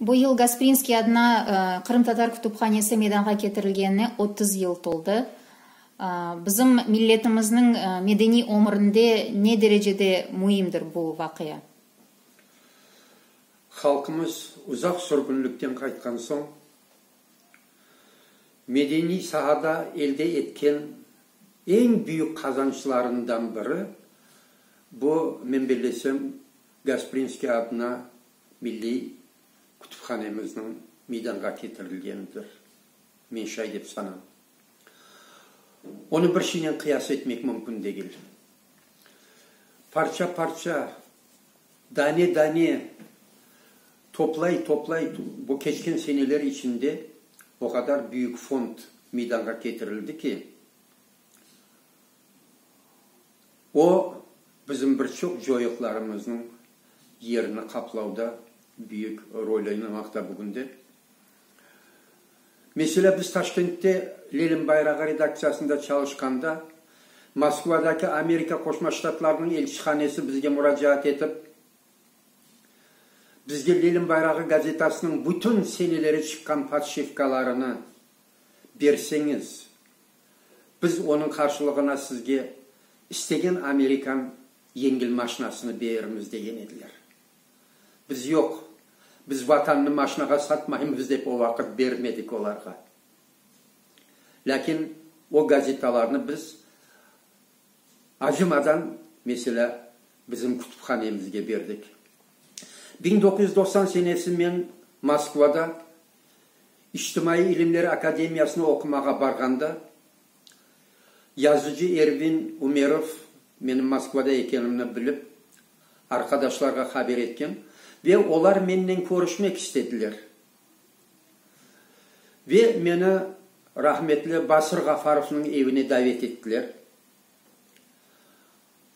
Bu yıl Gasprinskiy adına Qırımtatar kütüphanesi meydanğa ketirilgenine otuz yıl toldı. Bizim milletimizniñ medeniy ömürinde ne derecede müimdir bu vaqia? Halqımız uzaq sürgünlikten qaytqan soñ, medeniy sahada elde etken eñ büyük qazançlarından biri, bu, men bilesem, Gasprinskiy adına milliy kütüphanemizniñ meydanğa ketirilgenidir. Men şay dep sanam. Onı bir şeynen qıyas etmek mümkün degil. Parça-parça, dane-dane toplay-toplay bu keçken seneler içinde o qadar büyük fond meydanğa ketirildi ki, O, bizim bir çoq coyuqlarımıznıñ yerini qaplavda büyük rol oynamaqta bugünde. Meselâ, biz Taşkentte Lenin bayrağı redaktsiyasında çalışqanda, Moskvadaki Amerika Qoşma Ştatlarınıñ elçihanesi bizge muracaat etip, bizge Lenin bayrağı gazetasınıñ bütün seneleri çıqqan podşivkalarını berseñiz, Biz onıñ qarşılığına sizge istegen amerikan yengil maşinasını berirmiz, degen ediler. Biz, yoq, biz Vatannı maşinağa satmaymız, dep o vaqıt bermedik olarğa. Lâkin o gazetalarnı biz acımadan, meselâ, bizim kütüphanemizge berdik. Biñ doquz yüz doqsan senesi men Moskvada, İçtimaiy ilimler akademiyasına oqumağa barğanda, yazıcı Ervin Umerov menim Moskvada ekenimni bilip, arqadaşlarğa haber etken ve olar mennen körüşmek istediler. Ve meni rahmetli Basır Ğafarovnıñ evine davet ettiler.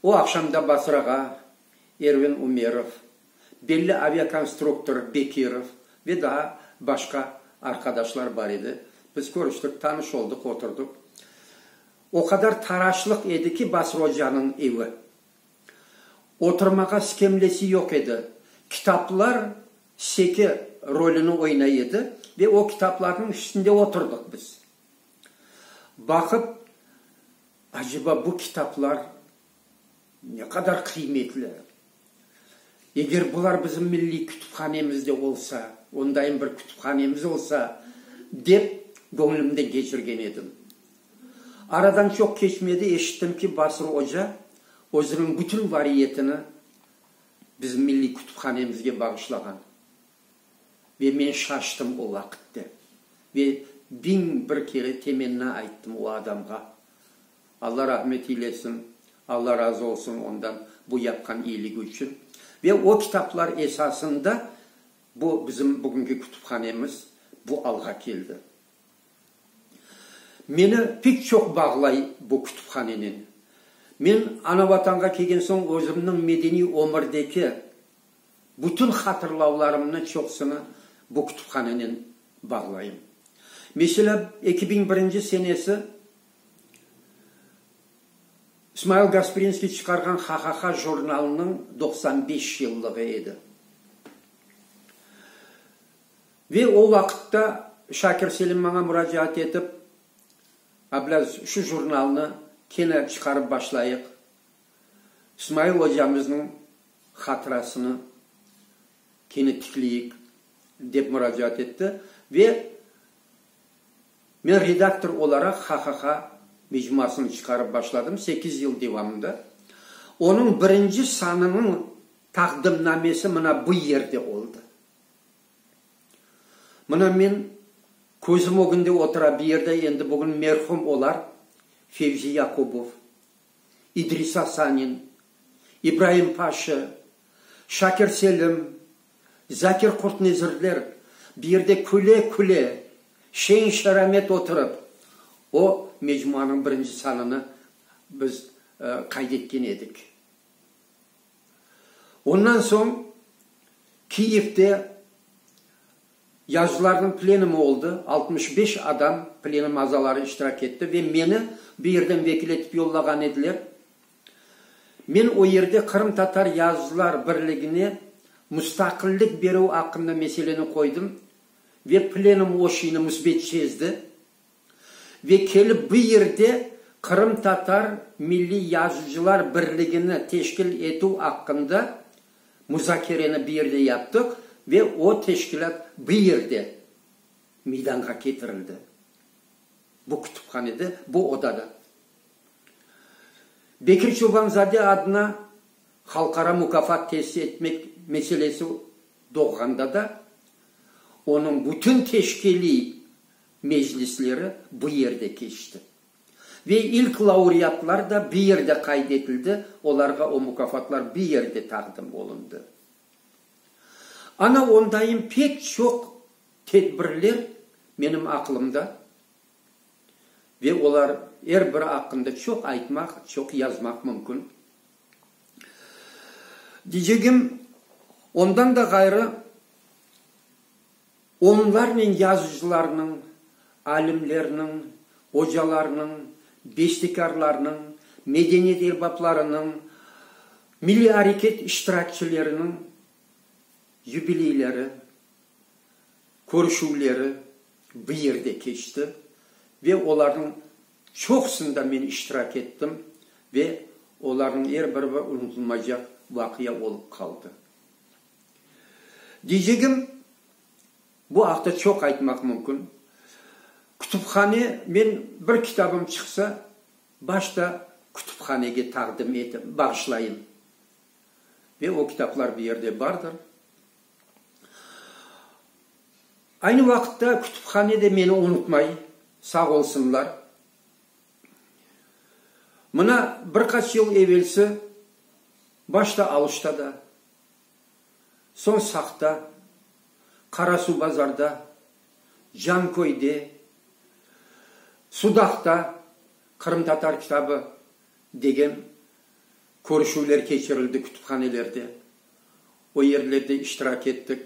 O aqşamda Basrağa Ervin Umerov, belli aviakonstruktor Bekirov ve daa başqa arqadaşlar bar edi. Biz körüştik, tanış oldıq, oturdıq. O qadar taraşlıq edi ki, Basra ocanıñ evi. Oturmağa skemlesi yoq edi. Kitaplar seke rolüni oynay edi ve o kitaplarnıñ üstünde oturdıq biz. Baqıp. Aceba bu kitaplar ne qadar qıymetli? Eger bular bizim milliy kütüphanemizde olsa, ondayım bir kütüphanemiz olsa, dep göñlümden keçirgen edim. Aradan çoq keçmedi, eşittim ki, Basır oca özüniñ bütün variyetini bizim milliy kütüphanemizge bağışlağan. Ve men şaştım o vaqitte. Ve biñ bir kere temenna ayttım o adamğa. Alla rahmet eylesin, Alla razı olsun ondan bu yapqan iyiligi içün. Ve o kitaplar esasında bu bizim bugünki kütüphanemiz bu alğa keldi. Meni pek çoq bağlay bu kütüphanenen. Men Ana Vatanğa kelgen soñ özümniñ medeniy ömirdeki Bütün hatırlavlarımnı çoqsını bu kütüphananen bağlayım. Meselâ, eki biñ birinci senesi İsmail Gasprinskiy çıqarğan Ha-ha-ha jurnalınıñ doqsan beş yıllığı edi. Ve o vaqıtta Şakir Selim maña muracaat etip, Ablâz, şu jurnalnı kene çıqarıp başlayıq, İsmail ocamıznıñ hatırasını kene tikleyik, dep muracaat etti ve men redaktor olaraq HHH mecmuasını çıqarıp başladım, sekiz yıl devamında. Onıñ birinci sanınıñ taqdimnamesi mına bu yerde oldı. Mına men közüm ögünde otura, bu yerde endi bugün merhum olar Fevzi Yakubov. İdrisa Sanin, İbraim Paşa, Şakir Selim, Zakir Qurtnezirler bir yerde küle-küle, şeñ-şeramet oturıp, o mecmuanıñ birinci sanını biz qayd etken edik. Ondan soñ Kiyevde Yazıcılarnıñ plenumı oldı, altmış beş adam, plenum azaları iştirak etti ve meni bu yerden vekil etip yollağan ediler. Men o yerde Qırımtatar Yazıcılar Birligine mustaqillik berüv aqqında meseleni qoydım ve plenum o şiyni müsbet şezdi. Ve kelip bu yerde Qırımtatar Milliy Yazıcılar Birligini teşkil etüv aqqında muzakereni bu yerde yaptıq ve o teşkilât bu yerde meydanğa ketirildi, bu kütüphanede, bu odada. Bekir Çobanzade adına halqara mukafat tesis etmek meselesi doğğanda da onıñ bütün teşkiliy, meclisleri bu yerde keçti. Ve ilk laureatlar da bu yerde qayd etildi, olarğa o mukafatlar bu yerde taqdim olundı. Ana ondayım pek çoq tedbirler menim aqlımda ve olar er biri aqqında çoq aytmaq, çoq yazmaq mümkün. Diycegim, ondan da ğayrı Onlarnen yazıcılarnıñ, alimlerniñ, ocalarnıñ, bestekârlarnıñ, medeniyet erbaplarınıñ, milliy areket iştirakçileriniñ yubileyleri, körüşüvleri bu yerde keçti ve olarnıñ çoqusında men iştirak ettim ve olarnıñ er biri bir unutılmaycaq vaqia olıp qaldı. Diycegim, bu aqta çoq aytmaq mümkün. Kütüphane, men bir kitabım çıqsa, başta kütüphanege taqdim etim, bağışlayım. Ve o kitaplar bir yerde bardır. Aynı vaqıtta kütüphane de meni unutmay, sağ olsunlar. Mına bir qaç yıl evelsi, başta Aluşta da, Sorsaqta, Qarasuvbazarda, Canköyde, Sudaqta Qırımtatar kitabı degen körüşüvler keçirildi kütüphanelerde. O yerlerde iştirak ettik.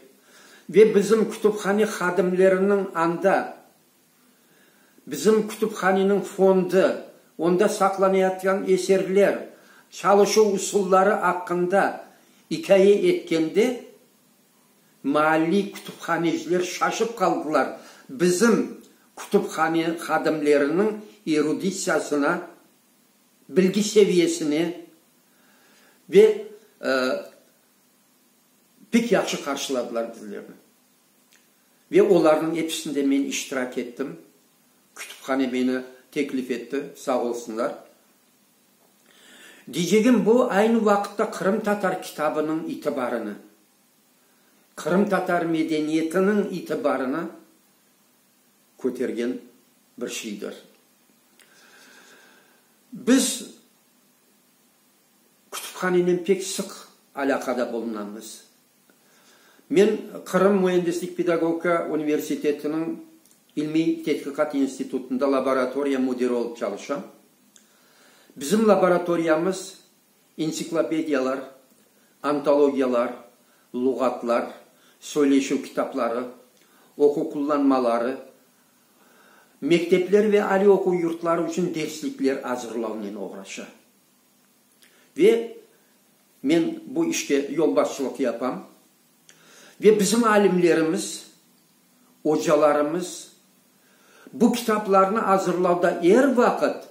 Ve bizim kütüphane hadimleriniñ anda, Bizim kütüphaneniñ fondı, onda saqlanayatgan eserler, çalışuv usulları aqqında ikâye etkende, maalliy kütüphaneciler şaşıp qaldılar, bizim kütüphane hadimleriniñ eruditsiyasına, bilgi seviyesine ve pek yahşı qarşıladılar bizlerni. Ve olarnıñ episinde men iştirak ettim. Kütüphane meni teklif etti, sağ olsunlar. Diycegim bu, aynı vaqıtta qırımtatar kitabınıñ itibarını, qırımtatar medeniyetiniñ itibarını kötergen bir şeydir. Biz kütüphanenen pek sıq alâqada bulunamız. Men Qırım müendislik pedagogika universitetiniñ ilmiy tedqiqat institutında laboratoriya müdiri olıp çalışam. Bizim laboratoriyamız entsiklopediyalar, antologiyalar, luğatlar, söyleşüv kitapları, oquv qullanmaları, mektepler ve aliy oquv yurtları içün derslikler azırlavnen oğraşa. Ve men bu işte yolbaşçılıq yapam. Ve bizim alimlerimiz, ocalarımız bu kitaplarnı azırlavda er vaqıt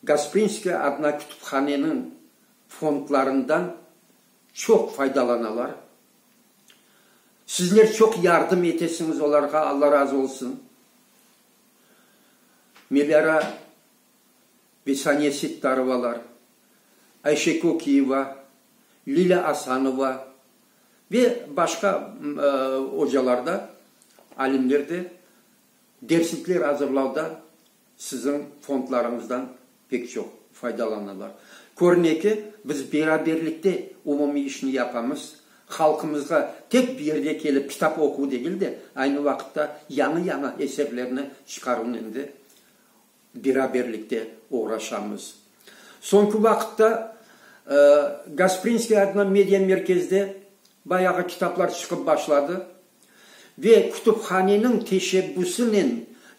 Gasprinskaya adına kütüphaneniñ fondlarından çoq faydalanalar. Sizler çoq yardım etesiñiz olarğa, Alla razı olsun. Melâra. Bisaniye Sittarovalar, Ayşe Kökiyeva, Lilâ Asanova ve başqa ocalar da, alimler de derslikler azırlavda siziñ fondlarıñızdan pek çoq faydalanırlar. Körüne ki, biz beraberlikte umumiy işni yapamız, halqımızğa tek bir yerde kelip kitap oquv degil de, aynı vaqıtta yañı-yañı eserlerni çıqaruvnıñ da beraberlikte oğraşamız. Soñki vaqıtta Gasprinskiy adına media merkezde bayağı kitaplar çıqıp başladı ve kütüphaneniñ teşebbüsinen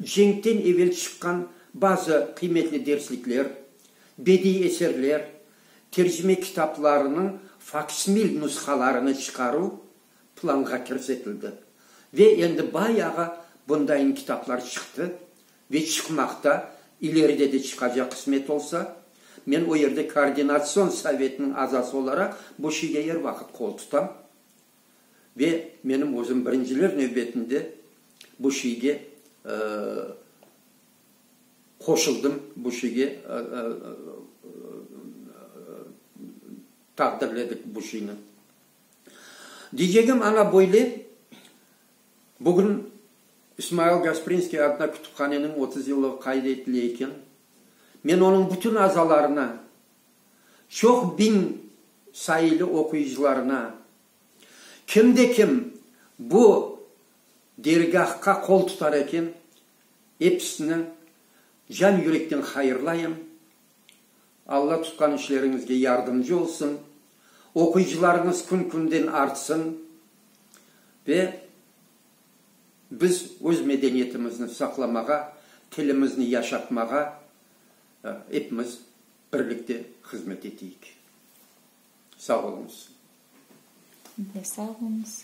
cenkten evel çıqqan bazı qıymetli derslikler, bediy eserler, tercime kitaplarınıñ faksmil nushalarını çıqaruv planğa kirsetildi ve endi bayağı bundayın kitaplar çıqtı, Ve çıqmaqta, ileride de çıqacaq qısmet olsa. Men o yerde Koordinatsion sovetiniñ azası olaraq bu şeyge er vaqıt qol tutam. Ve menim özüm birinciler nevbetinde bu şeyge qoşuldım, bu şeyge taqdirledik bu şeyni. Diycegim aña böyle. Bugün İsmail Gasprinskiy adına kütüphaneniñ otuz yıllığı qayd etile eken. Men onıñ bütün azalarına, çoq biñ sayılı oquyıcılarına, kim de kim bu dergâhqa qol tutar eken, episini can-yürekten hayırlayım. Alla tutqan işleriñizge yardımcı olsun, oquyıcılarıñız kün-künden artsın ve biz öz medeniyetimizni saqlamağa, tilimizni yaşatmağa epimiz birlikte hızmet eteyik. Sağ oluñız. Siz de sağ oluñız.